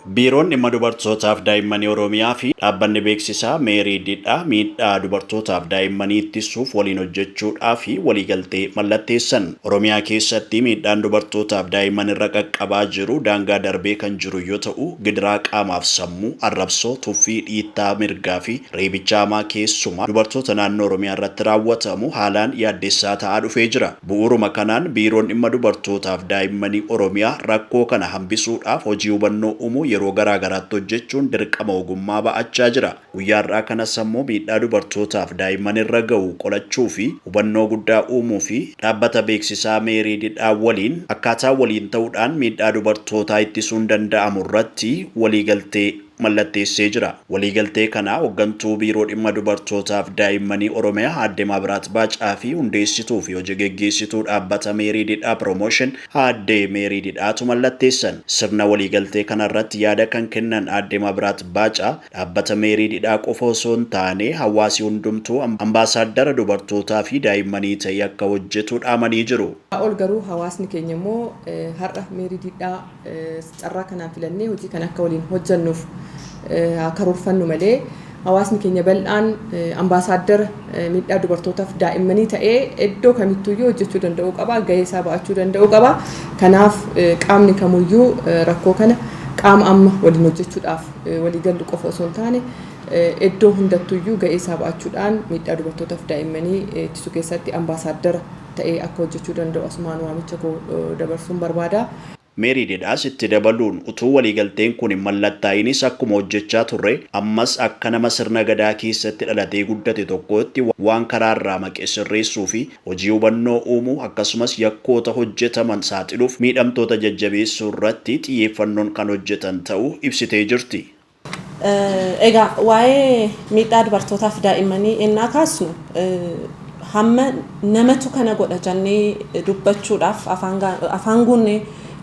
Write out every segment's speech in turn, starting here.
Biiroon Dhimma Dubartootaaf Daa'immanii Oromiyaa fi Dhaabbanni Beeksisaa Meerii Didhaa miidhaa dubartootaaf daa'immanii ittissuuf waliin hojjechuudhaaf waliigaltee mallatteessan. Oromiyaa keessatti miidhaan dubartootaaf daa'imman irra qaqqabaa jiru daangaa darbee kan jiru yoo ta'u, gidiraa qaamaaf sammuu, arrabsoo, tuffii, dhiittaa mirgaa fi reebicha hamaa keessumaa dubartoota naannoo Oromiyaa irratti raawwatamu haalaan yaaddessaa ta'aa dhufee jira. Bu'uuruma kanaan Biiroon Dhimma Dubartootaaf Daa'immanii Oromiyaa rakkoo kana hambisuudhaaf hojii hubannoo uumuu yeroo garaa garaatti hojjechuun dirqama ogummaa ba'achaa jira. Guyyaa har'aa kanas ammoo miidhaa dubartootaaf daa'imman irra ga'u qolachuufi hubannoo guddaa uumuufi dhaabbata beeksisaa Meerii Didhaa waliin akkaataa waliin ta'uudhaan miidhaa dubartootaa ittisuun danda'amu irratti waliigaltee mallatteessee jira. Waliigaltee kana Hoggantuu Biiroo Dhimma Dubartootaaf Daa'immanii Oromiyaa Aadde Maabiraat Baacaa fi Hundeessituu fi Hoji Geggeessituu Dhaabbata Meerii Didhaa Promotion Aadde Meerii Didhaatu mallatteessan. Sirna waliigaltee kana irratti yaada kan kennan Aadde Maabiraat Baacaa, Dhaabbata Meerii Didhaa qofa osoo hin taane hawaasi hundumtuu ambaasaaddara dubartootaa fi daa'immanii ta'ee akka hojjetu dhaamanii jiru. Ol garuu hawaasni keenya immoo har'a Meerii Didhaa Carraa kanaan filannee hojii kana akka waliin hojjennuuf haa karoorfannu malee hawaasni keenya bal'aan ambaasaaddara miidhaa dubartootaaf daa'immanii ta'ee iddoo kamittuyyuu hojjechuu danda'uu qaba, gahee isaa ba'achuu danda'uu qaba. Kanaaf qaamni kamuyyuu rakkoo kana qaama amma waliin hojjechuudhaaf walii gallu qofa osoo hin taane iddoo hundattuyyuu gahee isaa ba'achuudhaan miidhaa dubartootaaf daa'immanii ittisuu keessatti ambaasaaddara ta'ee akka hojjechuu danda'u asumaan waamicha koo dabarsuun barbaada. Meerii Dedaas itti dabaluun, utuu waliigalteen kun hin mallattaa'inis akkuma hojjechaa turre, ammas akka nama sirna Gadaa keessatti dhalatee guddate tokkootti waan karaa irraa maqe sirreessuu fi hojii hubannoo uumuu, akkasumas yakkoota hojjetaman saaxiluuf miidhamtoota jajjabeessuu irratti xiyyeeffannoon kan hojjetan ta'uu ibsitee jirti. Egaa waa'ee miidhaa dubartootaaf daa'immanii ennaa kaasnu hamma namatu kana godha jannee dubbachuudhaaf afaan guunnee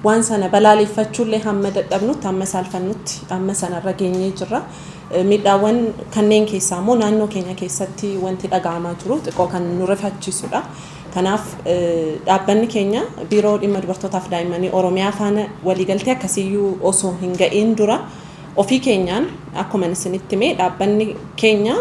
waan sana balaaleeffachuullee hamma dadhabnutti hamma saalfannutti amma sanarra geenyee jirra. Miidhaawwan kanneen keessaa immoo naannoo keenya keessatti wanti dhaga'amaa jiru xiqqoo kan nu rifachiisudha. Kanaaf dhaabbanni keenya biiroo dhimma dubartootaaf daa'immanii Oromiyaa faana waliigaltee akkasiiyyuu osoo hin ga'iin dura Ofii keenyaan akkuman isinitti hime dhaabbanni keenya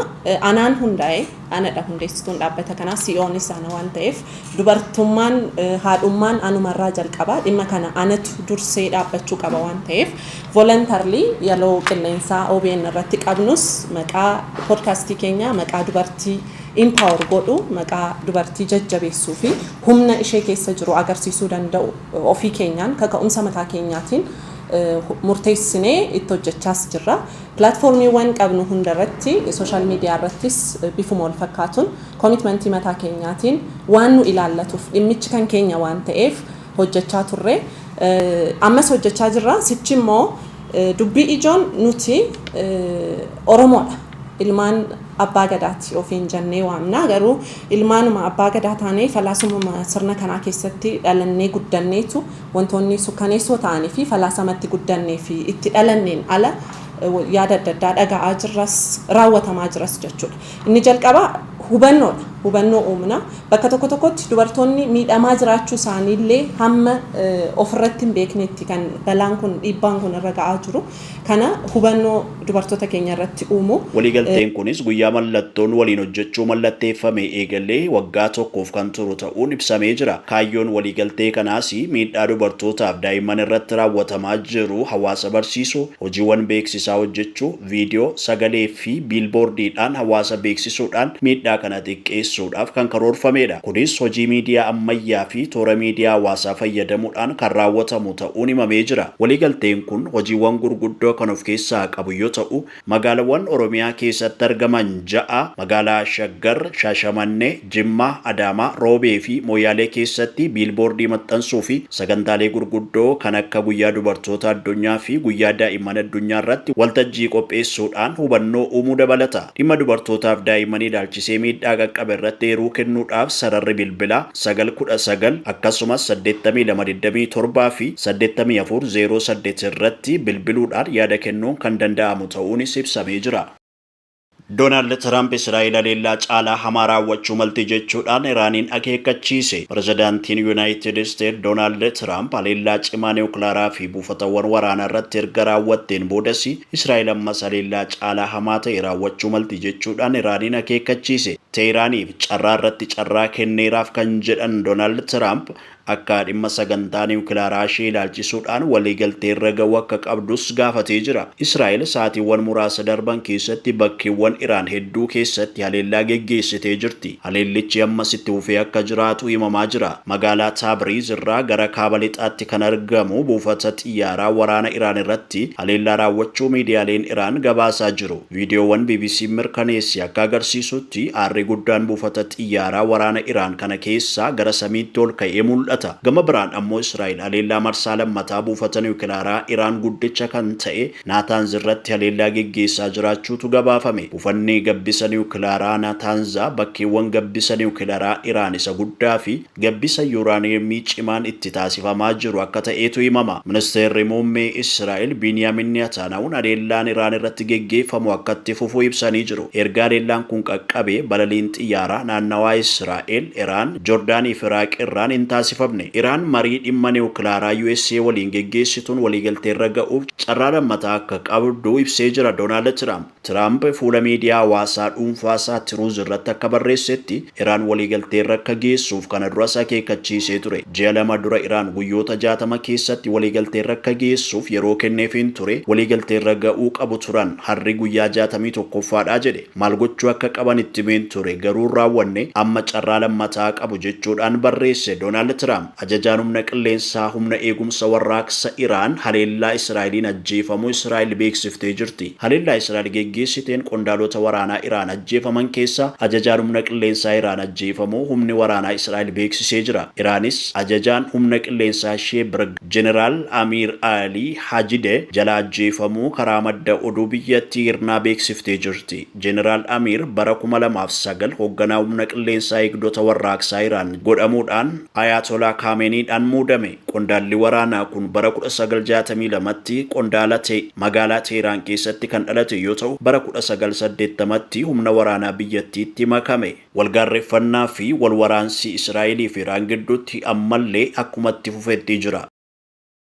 anaan hundaa'e, anadha hundeessituun dhaabbata kanaa, CEOnis ana waan ta'eef dubartummaan, haadhummaan anumarraa jalqaba. Dhimma kana anatu dursee dhaabbachuu qaba waan ta'eef voluntarily yaloo qilleensaa obn irratti qabnus maqaa podcast keenyaa maqaa dubartii empower godhu, maqaa dubartii jajjabeessuu fi humna ishee keessa jiru agarsiisuu danda'u ofii keenyaan kaka'umsa mataa keenyaatiin murteessinee itti hojjechaas jirra. Pilaatfoormiiwwan qabnu hunda irratti, sooshaal miidiyaa irrattis bifuma wal fakkaatuun komitmantii mataa keenyaatiin waan nu ilaallatuuf, dhimmichi kan keenya waan ta'eef hojjechaa turre. Ammas hojjechaa jirra. Sichi immoo dubbii ijoon nuti Oromoodha, ilmaan Abbaa Gadaati ofiin jennee waamna. Garuu ilmaanuma Abbaa Gadaa taanee falaasumuma sirna kanaa keessatti dhalannee guddanneetu, Wantoonni sukkaneessoo ta'anii fi falaasama itti guddannee fi itti dhalanneen ala yaada adda addaa dhaga'aa jirras, raawwatamaa jiras jechuu dha. Inni jalqabaa hubannoo dha. Hubannoo uumna. Bakka tokko tokkotti dubartoonni miidhamaa jiraachuu isaanii illee hamma of irratti hin beeknetti kan balaan kun, dhiibbaan kun irra ga'aa jiru. kana hubannoo dubartoota keenya irratti uumu. Waliigalteen kunis guyyaa mallattoon waliin hojjechuu mallatteeffamee eegalee waggaa tokkoof kan turu ta'uun ibsamee jira. Kaayyoon waliigaltee kanaas miidhaa dubartootaaf daa'imman irratti raawwatamaa jiru hawaasa barsiisuu, hojiiwwan beeksisaa hojjechuu, viidiyoo, sagalee, fi biilboordiidhaan hawaasa beeksisuudhaan miidhaa kana xiqqeessuudhaaf kan karoorfameedha. Kunis hojii miidiyaa ammayyaa fi toora miidiyaa hawaasaa fayyadamuudhaan kan raawwatamu ta'uun himamee jira. Waliigalteen kun hojiiwwan gurguddoo kan of keessaa qabu yoo ta'u, magaalawwan Oromiyaa keessatti argaman ja'a, magaalaa Shaggar, Shaashamanne, Jimmaa, Adaamaa, Roobee fi Moyaalee keessatti biilboordii maxxansuu fi sagantaalee gurguddoo kan akka Guyyaa Dubartoota Addunyaa fi Guyyaa Daa'imman Addunyaa irratti waltajjii qopheessuudhaan hubannoo uumuu dabalata. Dhimma dubartootaaf daa'immanii ilaalchisee miidhaa qaqqabe irratti eeruu kennuudhaaf sararri bilbilaa, 9 19, akkasumas 82 27 fi 84 08 irratti bilbiluudhaan yaada kennuun kan danda'amu ta'uunis ibsamee jira. Doonaald Tiraamp Israa'el haleellaa caalaa hamaa raawwachuu malti jechuudhaan Iraaniin akeekkachiise. Pirezidaantiin Yuunaayitid Isteet Doonaald Tiraamp haleellaa cimaa niwukilaaraa fi buufatawwan waraanaa irratti erga raawwatteen boodas Israa'el ammas haleellaa caalaa hamaa ta'e raawwachuu malti jechuudhaan Iraaniin akeekkachiise. Teehiraaniif carraa irratti carraa kenneeraaf kan jedhan Doonaald Tiraamp Akka dhimma sagantaa niwukilaaraa ishee ilaalchisuudhaan waliigaltee irra ga'uu akka qabdus gaafatee jira. Israa'el sa'aatiiwwan muraasa darban keessatti bakkeewwan Iraan hedduu keessatti haleellaa geggeessitee jirti. Haleellichi ammas itti fufee akka jiraatu himamaa jira. Magaalaa Taabriiz irraa gara kaaba lixaatti kan argamu buufata xiyyaaraa waraana Iraan irratti haleellaa raawwachuu miidiyaaleen Iraan gabaasaa jiru. Viidiyoowwan BBC'n mirkaneesse akka agarsiisutti, aarri guddaan buufata xiyyaaraa waraana Iraan kana keessaa gara samiitti ol ka'ee mul'ata. Gama biraan ammoo Israa'el haleellaa marsaa lammataa buufata niwukilaaraa Iraan guddicha kan ta'e Naataanz irratti haleellaa geggeessaa jiraachuutu gabaafame. Buufanni gabbisa niwukilaaraa Naataanzaa bakkeewwan gabbisa niwukilaraa Iraan isa guddaafi gabbisa yuuraaniyeemii cimaan itti taasifamaa jiru akka ta'eetu himama. Ministeerri Muummee Israa'el Biiniyaamin Netaanaahun haleellaan Iraan irratti geggeeffamu akka itti fufu ibsanii jiru. Erga haleellaan kun qaqqabee balaliin xiyyaaraa naannawaa Israa'el, Iraan, Jordaanii fi Iraaq irraan hin taasifamne. Iraan marii dhimma niwukilaaraa USA waliin geggeessituun waliigalteerra ga'uuf carraa lammataa akka qabdu ibsee jira Doonaald Tiraamp. Tiraamp fuula miidiyaa hawaasaa dhuunfaasaa Tiruuz irratti akka barreessetti, Iraan waliigalteerra akka geessuuf kana duras akeekkachiisee ture. Ji'a lama dura Iraan guyyoota 60 keessatti waliigalteerra akka geessuuf yeroo kenneefiin ture, waliigalteerra ga'uu qabu turan. Harri guyyaa 61ffaadha jedhe. Maal gochuu akka qaban itti himeen ture, garuu hin raawwanne, amma carraa lammataa qabu, jechuudhaan barreesse Doonaald Tiraamp. Ajajaan Humna Qilleensaa Humna Eegumsa Warraaqsa Iraan haleellaa Israa'eliin ajjeefamuu Israa'el beeksiftee jirti. Haleellaa Israa'el geggeessiteen qondaalota waraanaa Iraan ajjeefaman keessaa ajajaan Humna Qilleensaa Iraan ajjeefamuu humni waraanaa Israa'el beeksisee jira. Iraanis ajajaan humna qilleensaa ishee Birg. Jeneraal Amiir Alii Hajideh jalaa ajjeefamuu karaa madda oduu biyyattii irnaa beeksiftee jirti. Jeneraal Amiir bara kuma lamaa fi sagal hogganaa humna qilleensaa eegdota warraaqsaa Iraan godhamuudhaan Ayaatolaa Kaameeniidhaan muudame. Qondaalli waraanaa kun bara kudha sagal jaatamii lamatti qondaala ta'e. Magaalaa Teehraan keessatti kan dhalate yoo ta'u, bara kudha sagal saddeettamatti humna waraanaa biyyattiitti makame. Walgaarreffannaa fi walwaraansi Israa'elii fi Iraan gidduutti ammallee akkuma itti fufetti jira.